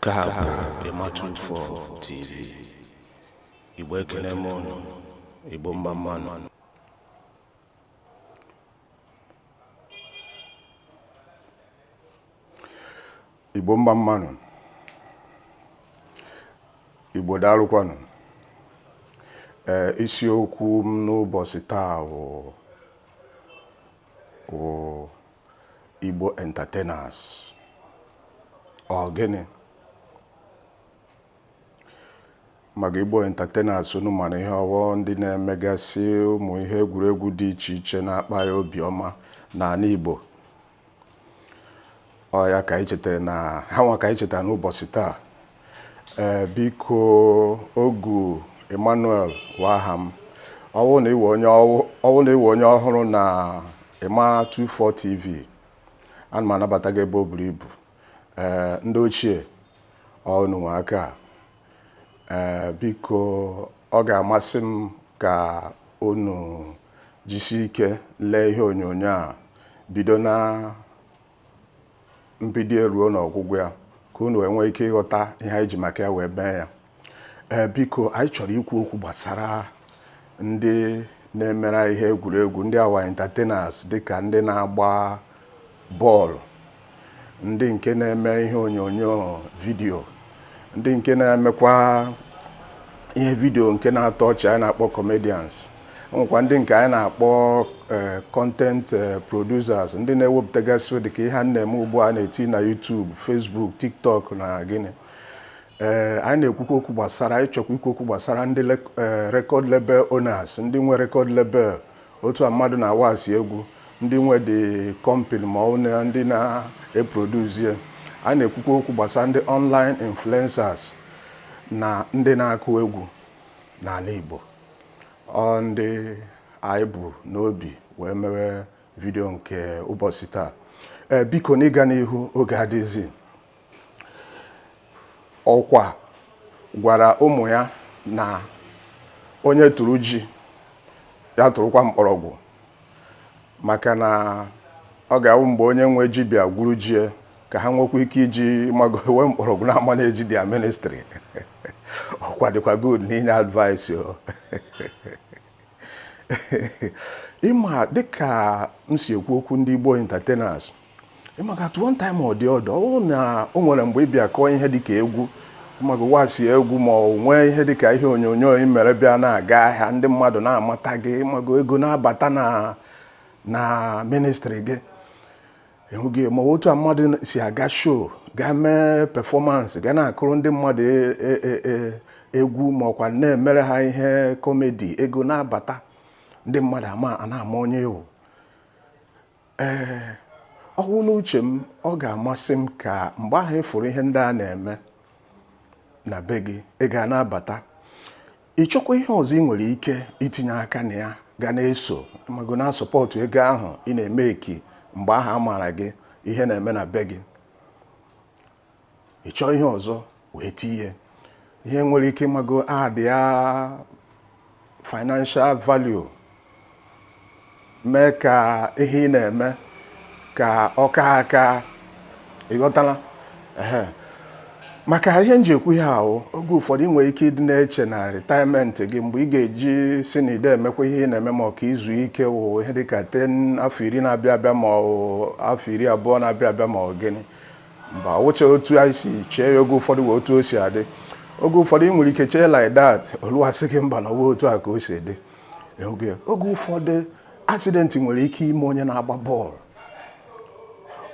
Nke a bụ Ịma 24 TV. Igbo ekele m unu, Igbo mma mmanụ. Igbo mma mmanụ. Igbo daalụkwanụ. Ee, isiokwu m n'ụbọchị taa bụ bụ Igbo entertainers ọ gịnị maka Igbo entertainers unu mara ihe ọ wụ ndị na-emegasị ụmụ ihe egwuregwu dị iche iche na-akpa ya obiọma n'ala Igbo ọ ya ka anyị chetara na ha nwa ka anyị chetara n'ụbọchị taa ee biko ogu emmanuel wụ aha m ọ wụ na ị wụ onye ọhụrụ na ịma 24 tv ana m anabata gị ebe o buru ibu ee ndị ochie ọ unu nwe aka a. ee biko ọ ga-amasị m ka unu jisie ike lee ihe onyonyo a bido na mbido ya ruo n'ọgwụgwụ ya ka unu wee nwee ike ịghọta ihe anyị ji maka ya wee mee ya ee biko anyị chọrọ ikwu okwu gbasara ndị na-emere anyị ihe egwuregwu ndị a wụ entertainers dịka ndị na-agba bọọlụ ndị nke na-eme ihe onyonyo vidiyo ndị nke na-emekwa ihe vidio nke na-atọ ọchị anyị na-akpọ comedians o nwekwa ndị nke anyị na-akpọ eh, content eh, producers ndị na-ewepụtagasị dịka ihe m na-eme ugbu a na-eti na YouTube Facebook TikTok na gịnị ee eh, anyị na-ekwukwa okwu gbasara anyị chọkwa ikwu okwu gbasara ndị eh, record label owners ndị nwe record label otu a mmadụ na-awasi egwu ndị nwe the company ma ọ wụ ndị na-eproduce a na-ekwukwa okwu gbasara ndị online influencers na ndị na-akụ egwu n'ala Igbo ọ ndị anyị bu n'obi wee mewe vidio nke ụbọchị taa ee biko n'ịga n'ihu oge adịzi Ọkwa gwara ụmụ ya na onye tụrụ ji ya tụrụkwa mkpọrọgwụ maka na ọ ga-awụ mgbe onye nwe ji bịa gwuru ji ya ka ha nwekwa ike iji mago wee mkpọrọgwụ na-amanage their ministry ọkwa dịkwa good n'inye advice o ịma dịka m si ekwu okwu ndị Igbo entertainers ịmaka at one time or the other ọ bụrụ na o nwere mgbe ị bịa kụọ ihe dịka egwu maka wasi egwu ma ọ nwee ihe dịka ihe onyonyo ị mere bịa na-aga ahịa ndị mmadụ na-amata gị ịmago ego na-abata na na ministry gị ịhụghị ma otu a mmadụ si aga show ga mee performance ga na-akụrụ ndị mmadụ e- e- e- e- egwu ma ọkwa na-emere ha ihe comedy ego na-abata ndị mmadụ a na-ama onye ị wụ ee ọ wụ n'uche m ọ ga-amasị m ka mgbe ahụ ị fụrụ ihe ndị a na-eme na be gị ego a na-abata ị chọkwa ihe ọzọ ị nwere ike itinye aka na ya ga na-eso ịmago na-asupport ego ahụ ị na-emake mgbe ahụ a maara gị ihe na-eme na be gị ị chọọ ihe ọzọ wee tinye ihe nwere ike ịmago add ya financial value mee ka ihe ị na-eme ka ọ ka aka ịghọtala ehe maka ihe m ji ekwu ihe ahụ oge ụfọdụ ị nwere ike ịdị na-eche na retirement gị mgbe ị ga-eji sị na ide emekwa ihe ị na-eme ma ọ ka i zuo ike wụ ihe dịka ten afọ iri na-abịa abịa ma ọ afọ iri abụọ na-abịa abịa ma ọ gịnị mba ọ wụcha otu anyị si chee ya oge ụfọdụ wụ otu o si adị oge ụfọdụ ị nwere ike chee like that o luo a sị gị mba na ọwa otu a ka o si dị oge ụfọdụ accident nwere ike ime onye na-agba bọọlụ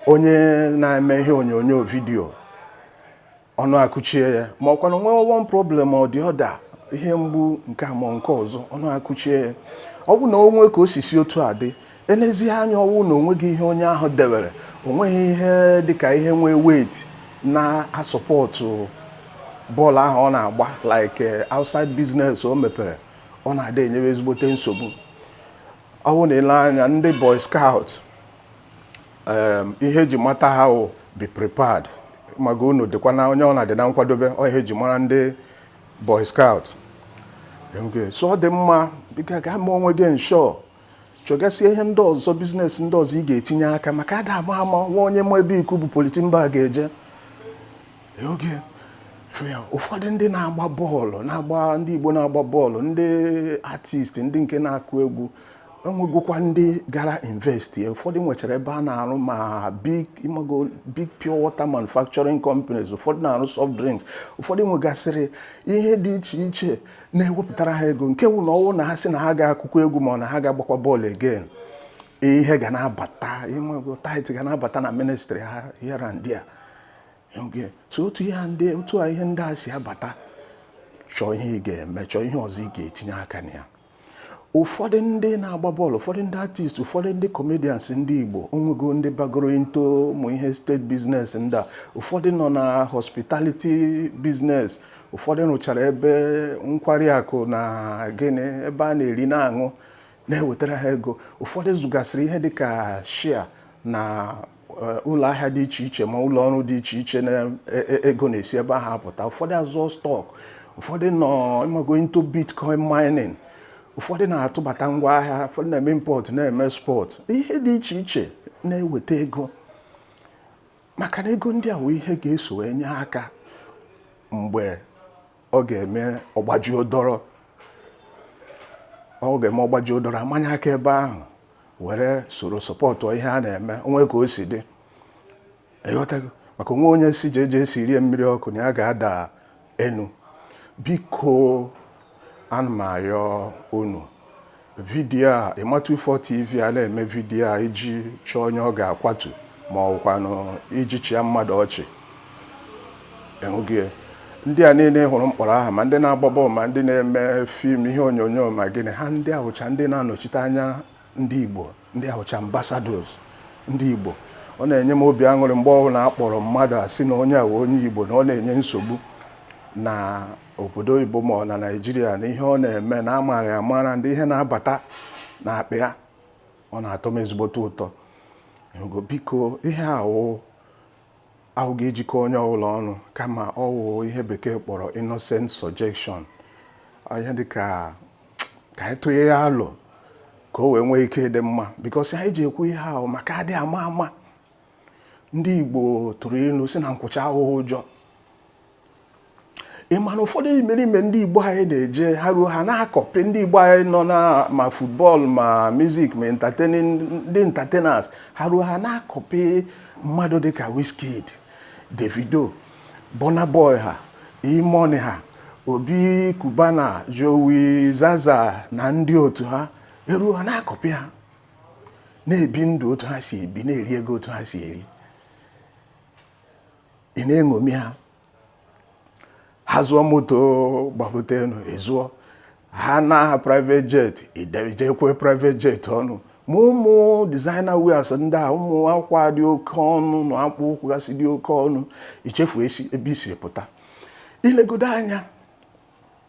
onye na-eme ihe onyonyo video ọnụ akụchie ya ma ọkwanụ nwee one problem or the other ihe mgbu nke a ma nke ọzọ ọnụ akụchie ya ọ bụ na o nwee ka o si si otu a dị Enezie anya ọwụ na onweghị ihe onye ahụ dewere onweghị ihe dịka ihe nwee weight na-asupport bọọlụ ahụ ọ na-agba like eh, outside business o mepere ọ na-adị enyewe ezigbote nsogbu ọwụ na i lee anya ndị boy scout ihe eji mata ha wụ be prepared ịmago unu dịkwa na onye ọ na-adị na nkwadobe ọ ihe eji mara ndị boy scout so ọ dị mma bịa ga mee onwe gị insure chọgasịa ihe ndị ọzọ business ndị ọzọ ị ga-etinye aka maka ada ama ama nwa onye ma ebe ikuku bu polythene bag eje ụfọdụ ndị na-agba bọọlụ na-agba ndị Igbo na-agba bọọlụ ndị artist ndị nke na-akụ egwu enwegokwa ndị gara invest ụfọdụ nwechara ebe a na-arụ ma big ịmago big pure water manufacturing companies ụfọdụ na-arụ soft drinks ụfọdụ nwegasịrị ihe dị iche iche na-ewepụtara ha ego nke wụ na ọ wụ na ha sị na ha ga-akụkwa egwu ma ọ na ha ga-agbakwa bọọlụ again ihe ga na-abata ịmago tithe ga na-abata na ministry ha here and there so otu ihe ndị otu a ihe ndị a si abata chọọ ihe ị ga-eme chọọ ihe ọzọ ị ga-etinye aka na ya ụfọdụ ndị na-agba bọọlụ ụfọdụ ndị artist ụfọdụ ndị comedians ndị Igbo onwego ndị bagoro into ụmụ ihe estate business ndị a ụfọdụ nọ na hospitality business ụfọdụ rụchara ebe nkwari akụ na gịnị ebe a na-eri na-aṅụ na-ewetara ha ego ụfọdụ zụgasịrị ihe dịka share na eh, ụlọ ahịa dị iche iche ma ụlọ ọrụ dị iche iche na ego e, e, na-esi ebe ahụ apụta ụfọdụ azụọ stock ụfọdụ nọ ịmago into bitcoin mining ụfọdụ na-atụbata ngwa ahịa ụfọdụ na-eme import na-eme export ihe dị iche iche na-eweta ego maka na ego ndị a wụ ihe ga-eso wee nye aka mgbe ọ ga-eme ọ gbajuo dọrọ ọ ga-eme ọ gbajuo dọrọ a manye aka ebe ahụ were soro sọpọtụ ihe a na-eme o nwee ka o si dị ịghọtago maka o nweghị onye sị jeje siiri ya mmiri ọkụ na ya ga-ada enu biko ana m arịọ unu vidiyo a ịmatu ifo tv a na-eme vidiyo a iji chọọ onye ọ ga-akwatu ma ọ bụkwanụ iji chịa mmadụ ọchị ọ wụghị ya. ndị a niile hụrụ m kpọrọ aha ma ndị na-agba bọọlụ ma ndị na-eme fim ihe onyonyo ma gịnị ha ndị a wụcha ndị na-anọchite anya ndị igbo ndị a wụcha ambassadors ndị Igbo ọ na-enye m obi aṅụrị mgbe ọbụla a kpọrọ mmadụ a sị na onye a wụ onye Igbo na ọ na-enye nsogbu na obodo oyibo ma ọ na Naịjirịa na ihe ọ na-eme na a mara ya amara ndị ihe na-abata na akpa ya ọ na-atọ m ezigbote ụtọ biko ihe awụ Awụghị iji kọọ onye ọbụla ọnụ kama ọ wụ ihe bekee kpọrọ innocent suggestion ihe dị ka ka anyị tụnye ya alo ka o wee nwee ike ịdị mma because anyị ji ekwu ihe ahụ maka adị ama ama ndị Igbo tụrụ ilu sị na nkwụcha awụghị ụjọ ị ma na ụfọdụ imerime ndị igbo anyị na-eje ha ruo ha na-akọpị ndị igbo anyị nọ na ma football ma music ma entertaining ndị entertainers ha ruo ha na-akọpị mmadụ dịka Wizkid Davido Burna Boy ha E-Money ha Obi Cubana Jowi Zaza na ndị otu ha eruo ha na-akọpị ha na-ebi ndụ otu ha si ebi na-eri ego otu ha si eri ị na-eṅomi ha ha zụọ moto gbagote enu ị zụọ ha na aha private jet idejekwe private jet ọnụ ma ụmụ designer wears ndị a ụmụ akwa dị oke ọnụ na akpụ ụkwụ gasị dị oke ọnụ i chefuo ebe i siri pụta ilegodo anya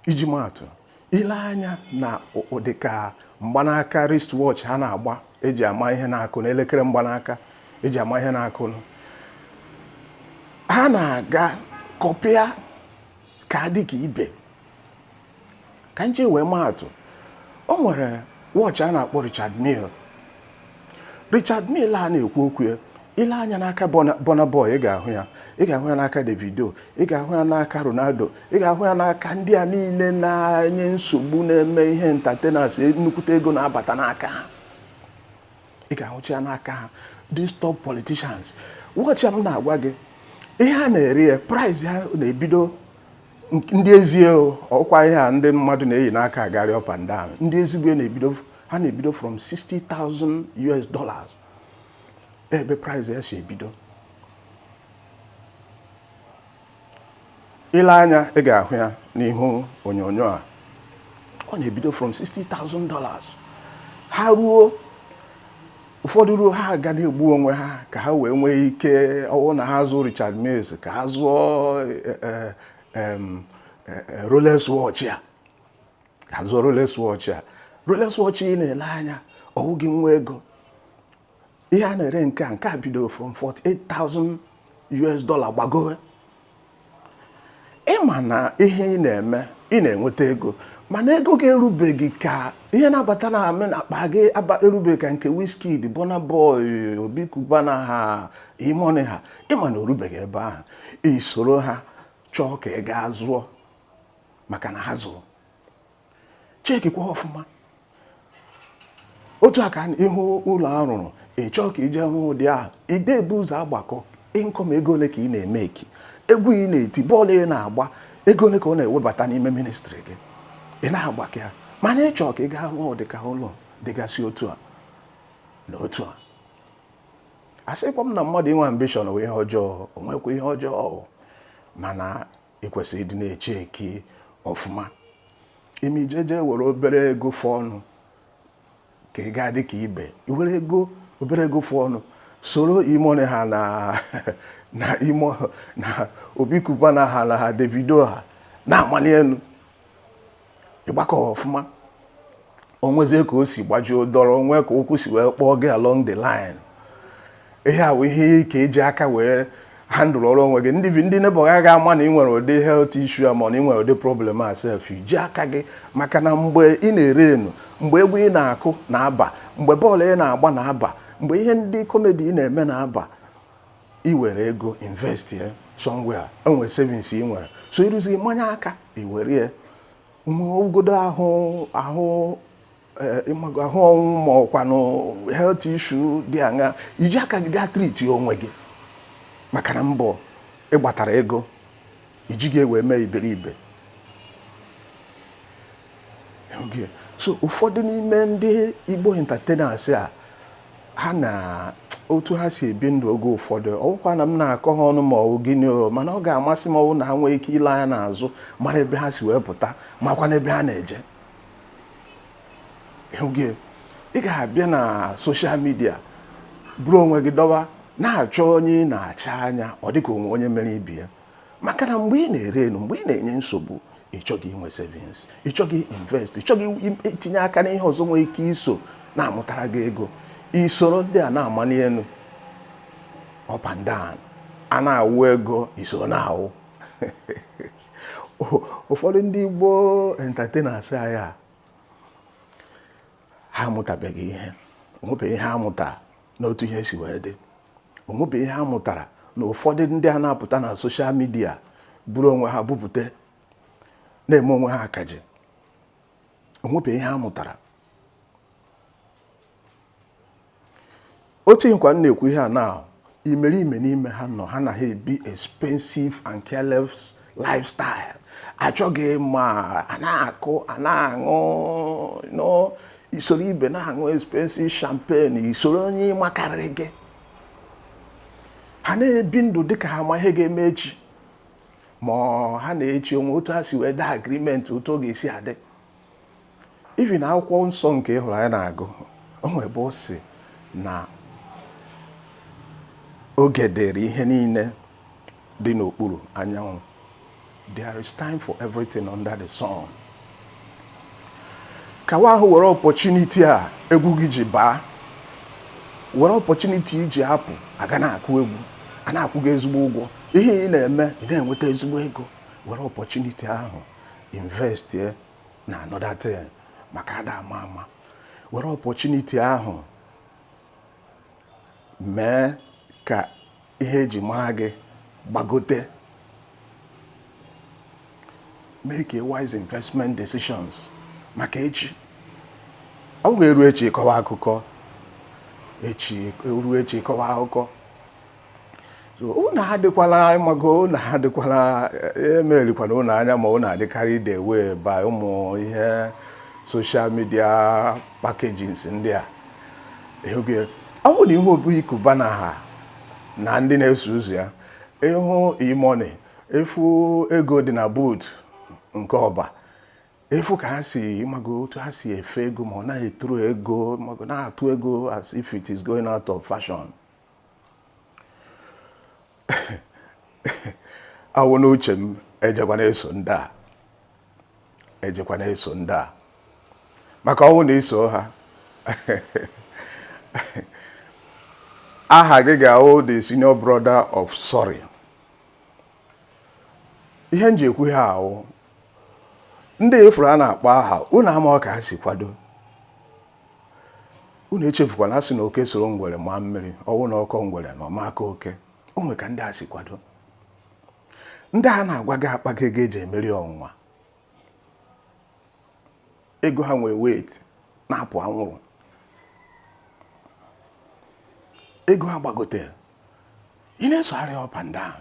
iji maatụ ile anya na ụdị ka mgbanaka wristwatch ha na-agba eji ama ihe na-akụ na elekere mgbanaka eji ama ihe na-akụ ha na-aga kọpịa ka dị ka ibe ka m ji wee maatụ o nwere watch a na-akpọ Richard Mille Richard Mille a na-ekwu okwu ya ile anya n'aka Burna Boy ị ga-ahụ ya ị ga-ahụ ya n'aka Davido ị ga-ahụ ya n'aka Ronaldo ị ga-ahụ ya n'aka ndị a niile na-enye nsogbu na-eme ihe entertainers nnukwute ego na-abata n'aka ha ị ga-ahụcha ya n'aka ha these top politicians watch m na-agwa gị ihe a na-ere ya price ya na-ebido ndị ezie ọkwa ihe a ndị mmadụ na-eyi n'aka agarị up and down ndị ezigbo na-ebido ha na-ebido from 60,000 US dollars ebe price ya si ebido ile anya ị ga-ahụ ya n'ihu onyonyo a ọ na-ebido from 60,000 dollars ha ruo ụfọdụ ruo ha aga na-egbu onwe ha ka ha wee nwee ike ọwụ na ha zụọ Richard Mills ka ha zụọ eh, eh, eh, Rolex watch a zụọ Rolex watch a Rolex watch ị na-ele anya ọwụ gị nwe ego ihe a na-ere nke a nke a bido from 48,000 US dollar gbagowe ịma na ihe ị na-eme ị na-enweta ego mana ego gị erubeghị ka ihe na-abata na amị na akpa gị erubeghị ka nke Wizkid Burna Boy Obi Cubana ha E-Money ha ịma na orubeghị ebe ahụ isoro ha chọọ ka ị gaa zụọ maka na ha zụrụ cheki kwa ọfụma otu a ka ịhụ ụlọ a rụrụ ị chọọ ka i je rụ ụdị ahụ ide ebu ụzọ agbakọ income ego ole ka ị na-emeki egwu ị na-eti bọọlụ ị na-agba ego ole ka ọ na-ewebata n'ime ministry gị ị na-agbakọ ya mana ị chọọ ka ị gaa rụọ ụdị ka ụlọ dịgasị otu a na otu a asịkwa m na mmadụ inwe ambition wụ ihe ọjọọ ọ wụkwa ihe ọjọọ mana ị kwesịrị ịdị na-echeki ọfụma ime ijeje were obere ego fọ ọnụ ka ị gaa dị ka ibe i were ego obere ego fọ ọnụ soro E-Money ha na na imo na Obi Cubana ha na ha Davido ha na-amali elu ịgbakọ ọfụma onwezie ka o si gbajuo dọrọ onwe ka ụkwụ si wee kpọọ gị along the line ihe a bụ ihe ka eji aka wee handle ọrụ onwe gị ndị ndị neighbour gị aga ama na ị nwere ụdị health issue a ma na ị nwere ụdị problem a sef i ji aka gị maka na mgbe ị na-erenụ mgbe egwu ị na-akụ na-aba mgbe bọọlụ ị na-agba na-aba mgbe ihe ndị comedy ị na-eme na-aba i were ego invest ya somewhere enwere savings ị nwere so iruzi manye aka i were ya nwegodo ahụ ahụ eh, ịmago ahụ ọnwụ ma ọkwanụ health issue dị aṅa iji aka gị gaa treat onwe gị maka na mbọ ị gbatara ego ijighị wee mee iberibe so ụfọdụ n'ime ndị Igbo entertainers a ha na otu ha si ebi ndụ oge ụfọdụ ọwụkwa na m na-akọ ha ọnụ ma ọwụ gịnị o mana ọ ga-amasị m ọwụ na ha nwee ike ile anya n'azụ mara ebe ha si wee pụta makwa n'ebe ha na-eje ọwụghị ị ga-abịa na social media buru onwe gị dọwa na-achọ onye ị na-acha anya ọ dịka onwe onye mere ibe ya maka na mgbe ị na-ere enu mgbe ị na-enye nsogbu ị chọghị inwe savings ị chọghị invest ị chọghị itinye aka n'ihe ọzọ nwee ike iso na-amụtara gị ego isoro ndị a na-amali elu up and down a na-awụ ego iso na-awụ ụfọdụ ndị Igbo entertainers anyị a ha amụtabeghị ihe onwebeghị ihe amụta n'otu ihe si wee dị onwebe ihe a mụtara na ụfọdụ ndị a na-apụta na social media buru onwe ha bupụta na-eme onwe ha akaje onwebe ihe a mụtara otu ihekwa m na-ekwu ihe a na imerime n'ime ha nọ ha na ha ebi expensive and careless lifestyle achọghị ịma a na-akụ a na-aṅụ no isoro ibe na-aṅụ expensive champagne isoro onye makarịrị gị ha na-ebi ndụ dịka ha ma ihe ga-eme echi ma ha na echi onwe otu ha si wee daa agreement otu ọ ga-esi adị even akwụkwọ nsọ nke ị hụrụ anyị na-agụ o nwere ebe ọ sị na oge dịrị ihe niile dị n'okpuru anyanwụ there is time for everything under the sun kawa ahụ were opportunity a egwu gị ji baa were opportunity iji apụ aga na-akụ egwu a na-akwụ gị ezigbo ụgwọ ihe ị na-eme ị na-enweta ezigbo ego were opportunity ahụ investie na another thing maka ada ama ama were opportunity ahụ mee ka ihe eji mara gị gbagote make a wise investment decisions maka echi ọwụghị eru echi ịkọwa akụkọ echi eru echi ịkọwa akụkọ unu adịkwala ịmago unu adịkwala emerikwana unu anya ma unu adị carried away by ụmụ ihe social media packaging ndị a ọ bụ na ị hụ Obi Cubana ha na ndị na-eso ụzọ ya ị hụ E-Money ị fụ ego dị na boot nke ọ bụ ị fụ ka ha si ịmago otu ha si efe ego ma ọ naghị eturu ego na-atụ ego as if it is going out of fashion ọ wụ n'uche m ejekwana eso ndị a ejekwana eso ndị a maka ọ wụ na i so ha aha gị ga-awụ the senior brother of sorry ihe m ji ekwu ihe a wụ ndị ị fụrụ a na-akpọ aha unu ama ka ha si kwado unu echefukwana a sị na oke soro ngwere maa mmiri ọ wụ na ọ kọọ ngwere na ọ ma akọ oke o nwe ka ndị a si kwado ndị a na-agwa gị akpago ego e ji emeri ọnwụnwa ego ha nwee weight na-apụ anwụrụ ego ha gbagotere ị na-esogharị up and down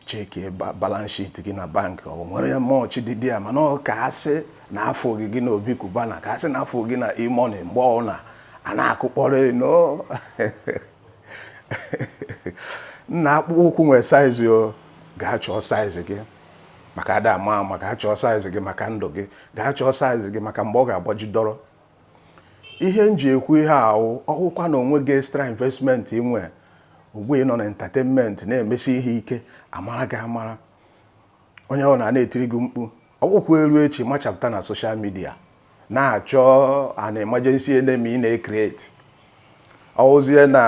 checkie balance sheet gị na bank o nwere much dị there mana ọ ka a sị na a fụ gị gị na Obi Cubana ka a sị na a fụ gị na E-Money mgbe ọna a na-akụkpọrọ no nna akpụkpọ ụkwụ nwere size o gaa chọọ size gị maka ada ama ama gaa chọọ size gị maka ndụ gị gaa chọọ size gị maka mgbe ọ ga-agbaji dọrọ ihe m ji ekwu ihe a wụ ọ wụkwa na o nweghị extra investment i nwe ugbu ị nọ na entertainment na-emesi ihe ike amara gị amara onye ọna na-etiri gị mkpu ọ wụkwa e ruo echi machapụta na social media na-achọ an emergency enemy na-ecreate ọ wụzie na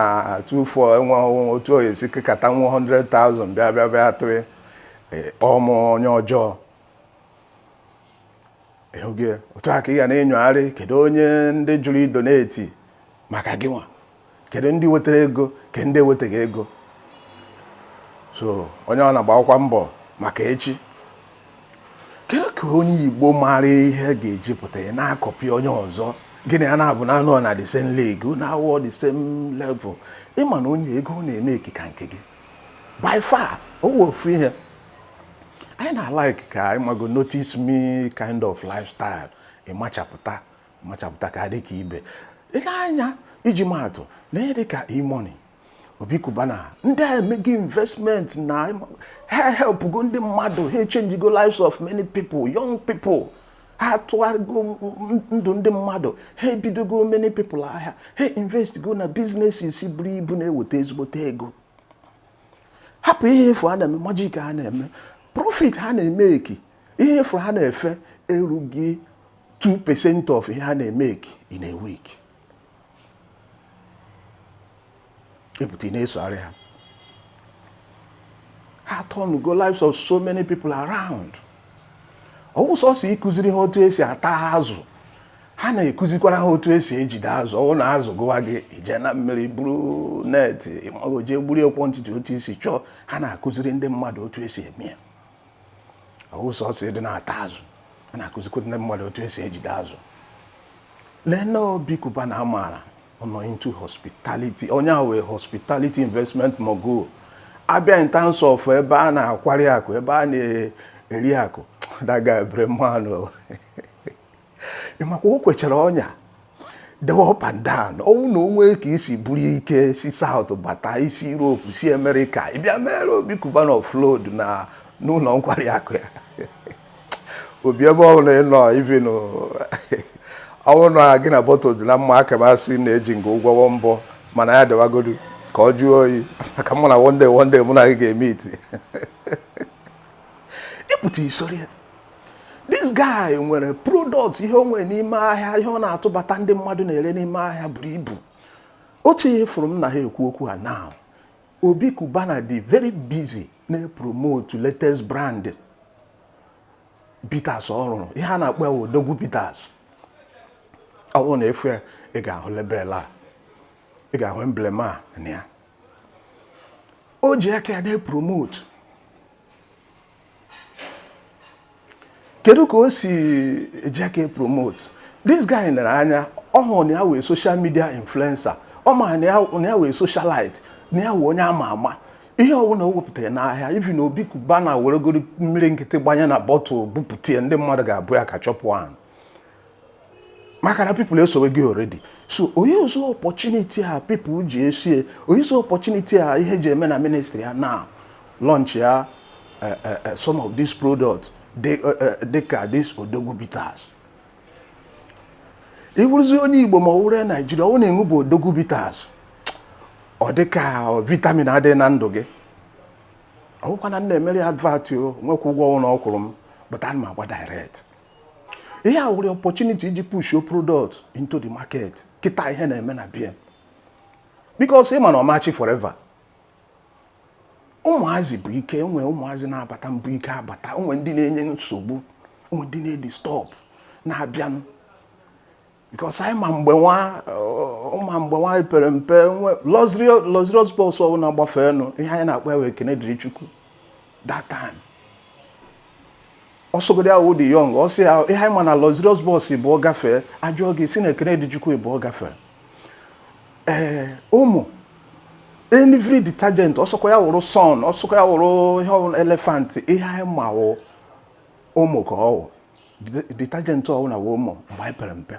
24 enwe otu oyi esi kekata nwa 100,000 bịa bịa bịa tụrụ e, kpọọ m onye ọjọọ ịhụgị ya otu a ka ị ga na-enyogharị kedu onye ndị jụrụ idonate maka gị nwa kedu ndị wetara ego kedu ndị ewetaghị ego so onye ọna gbaakwa mbọ maka echi kedu ka onye igbo maara ihe ga-eji pụta ya na-acopy onye ọzọ gị na ya na-abụ na-anọ na the same league na awọ the same level ị ma na onye ego ọ na-emake ka nke gị by far ọ wụ ofu ihe anyị na-alike ka ịmago notice me kind of lifestyle ịmachapụta machapụta ka dị ka ibe ị lee anya iji maa atụ na ihe dị ka E-Money Obi Cubana ndị a emego investment na ha ehelpgo ndị mmadụ ha echangego lives of many people young people ha atụgharịgo ndụ ndị mmadụ ha ebidogo many people ahịa ha invest go na businesses buru ibu na-eweta ezigbote ego hapụ ihe ị fụ ha na-eme magic ha na-eme profit ha na-emeki ihe ị fụ ha na-efe erughị 2% of ihe ha na-emeki in a week ị pụta ị na-esogharị ha ha turn go lives of so many people around ọ wụ sọsọ ịkụziri ha otu esi ata azụ ha na-ekụzikwara ha otu esi ejide azụ ọ wụ na azụ gụwa gị ị jee na mmiri buru net ị mago jee gburu quantity otu i si chọọ ha na-akụziri ndị mmadụ otu esi eme ya ọ wụ sọsọ ịdị na-ata azụ ha na-akụzikwa ndị mmadụ otu esi ejide azụ lee na Obi Cubana amaala ọ nọ into hospitality onye a wụ a hospitality investment mogul a bịa in terms of ebe a na-akwari akụ ebe a na-eri akụ daga ebere mmanụ ị makwa o kwechara ọnya dewe up and down ọ wụ na o nwe ka i si buru ike si South bata i si Europe si America ị bịa mere Obi Cubana offload na n'ụlọ nkwari akụ ya Obi ebe ọ bụla ị nọ even ọ wụ na gị na bottle dị na mma aka m asị na-eji nga ụgwọ one bo mana ya dịwagodu ka ọ jụọ oyi maka m ma na one day one day mụ na gị ga-emeet ị pụta i soro ya this guy nwere products ihe o nwere n'ime ahịa ihe ọ na-atụbata ndị mmadụ na-ere n'ime ahịa buru ibu otu ihe fụrụ m na ha ekwu okwu a now Obi Cubana dị very busy na-epromote latest brand bitters ọ rụrụ ihe a na-akpọ ya Odogwu Bitters ọ bụrụ na ị fụ ya ị ga-ahụ label a ị ga-ahụ emblem a na ya o ji aka ya na-epromote kedu ka o si eji aka epromote this guy nere anya ọ hụrụ na ya wụ a social media influencer ọ ma na ya wụ a socialite na ya wụ onye ama ama ihe ọbụla o wepụtara n'ahịa even Obi Cubana weregoro mmiri nkịtị gbanye na bottle bupụta ndị mmadụ ga-abụ ya ka chọpụ ahụ maka na people esowe gị already so ọ na-euse opportunity a people ji esie ọ na-euse opportunity a ihe ji eme na ministry ya na-alaunch ya eh, eh, eh, some of these products dịka this Odogwu Bitters ị wụrụzi onye Igbo ma ọ wụrụ Nigeria ọ wụ na ị ṅụbu Odogwu Bitters ọ dịka vitamin adịghị na ndụ gị ọ bụkwa na m na-emere advert o nwekwa ụgwọ ọ wụna ọ kwụrụ m but ana m agwa direct ihe a were opportunity iji push your product into the market kịta ihe na-eme na bie because ị ma na ọ ma-achị forever ụmụazị bu ike enwe ụmụazị na-abata bu ike abata onwe ndị na-enye nsogbu onwe ndị na-edisturb na-abịanụ because anyị ma mgbe nwa ụma mgbe anyị pere mpe nwe luxurious luxurious bus ọbụla gbafeenụ ihe anyị na-akpọ ya wụ Ekene Dịrị Chukwu that time ọsọgodi ya wụ The Young ọ sị ya ihe anyị ma na luxurious bus bụ ọ gafee ajụọ gị sị na Ekene Dịrị Chukwu bụ ọ gafee ee Omo every detergent ọsọkwa ya wụrụ sun ọsọkwa ya wụrụ ihe ọbụla Elephant ihe anyị ma wụ Omo ka ọ wụ detergent ọbụla wụ Omo mgbe anyị pere mpe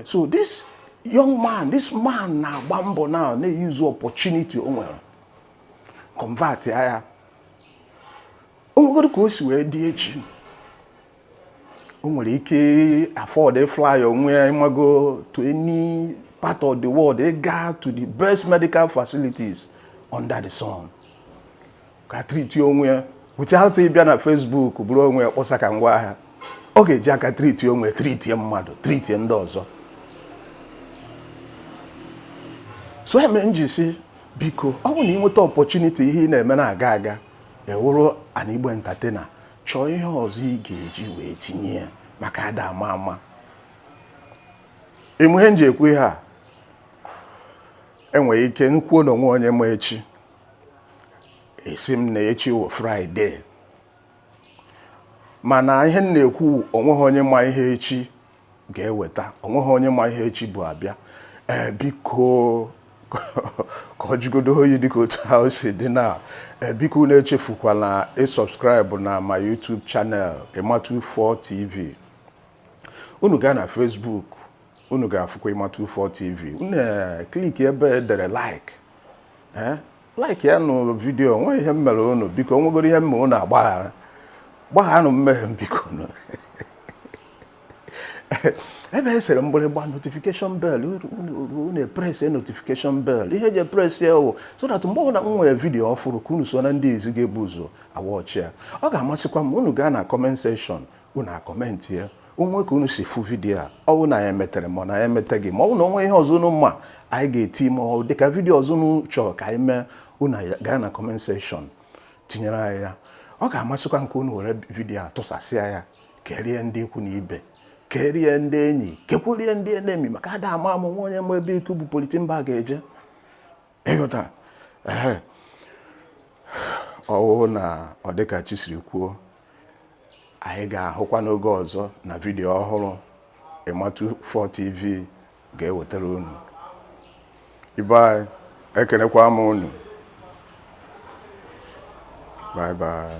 so this young man this man na-agba mbọ na na-use opportunity o nwere convert ya o nwegodu ka o si wee dị echi o nwere ike afford fly onwe ya ịmago to any part of the world ga to the best medical facilities under the sun ka treat onwe ya without ịbịa na Facebook buru onwe ya kpọsa ka ngwa ahịa ọ ga-eji aka treat onwe treat mmadụ treat ndị ọzọ so ihe m ji sị biko ọ bụ na i nweta opportunity ihe ị na-eme na-aga aga ị wụrụ an Igbo entertainer chọọ ihe ọzọ ị ga-eji wee tinye ya maka ada ama ama ị ma ihe m ji ekwu ihe a enwere ike m kwuo na onwe onye ma echi ị sị m na echi wụ Friday mana ihe m na-ekwu onweghị onye ma ihe echi ga-eweta onweghị onye ma ihe echi bu abịa ee eh, biko ka ọ jụgodo oyi dịka otu ahụ o si dị na eh, biko unu echefukwala ịsubscribe na my YouTube channel Ima24 TV unu gaa na Facebook unu ga-afụkwa Ima24 TV unu ekliki ebe edere like eh? like ya nụ vidiyo nwe ihe m mere unu biko nwegoro ihe m me unu agbaghara gbagharanụ mmehie m biko nụ ebe e sere mgbịrịgba notification bell unu epresi notification bell ihe e ji epresi ya wụ so that mgbe ọbụla m nwere vidiyo ọfụrụ ka unu so na ndị izizi ga-ebu ụzọ awatch ya ọ ga-amasịkwa m unu gaa na comment section unu acomment ya onwe ka unu si fụ vidiyo a ọ bụ na ya emetere ma na ya emeteghị ma ọ bụ na onwe ihe ọzọ unu ma anyị ga-eti ma ọ dịka vidiyo ọzọ unu chọrọ ka anyị mee unu gaa na comment section tinyere anyị ya ọ ga-amasịkwa m ka unu were vidiyo a tụsasịa ya kerie ndị ikwu na ibe kerie ndị enyi kekwerie ndị enemy maka ada ama ama onwe onye ma ebe ikuku bu polythene bag ga-eje ịghọta ehe ọ wụ na ọ dịka chi siri kwuo anyị ga-ahụkwa n'oge ọzọ na vidiyo ọhụrụ ima24 tv ga-ewetara unu ibe anyị ekenekwa m unu bye bye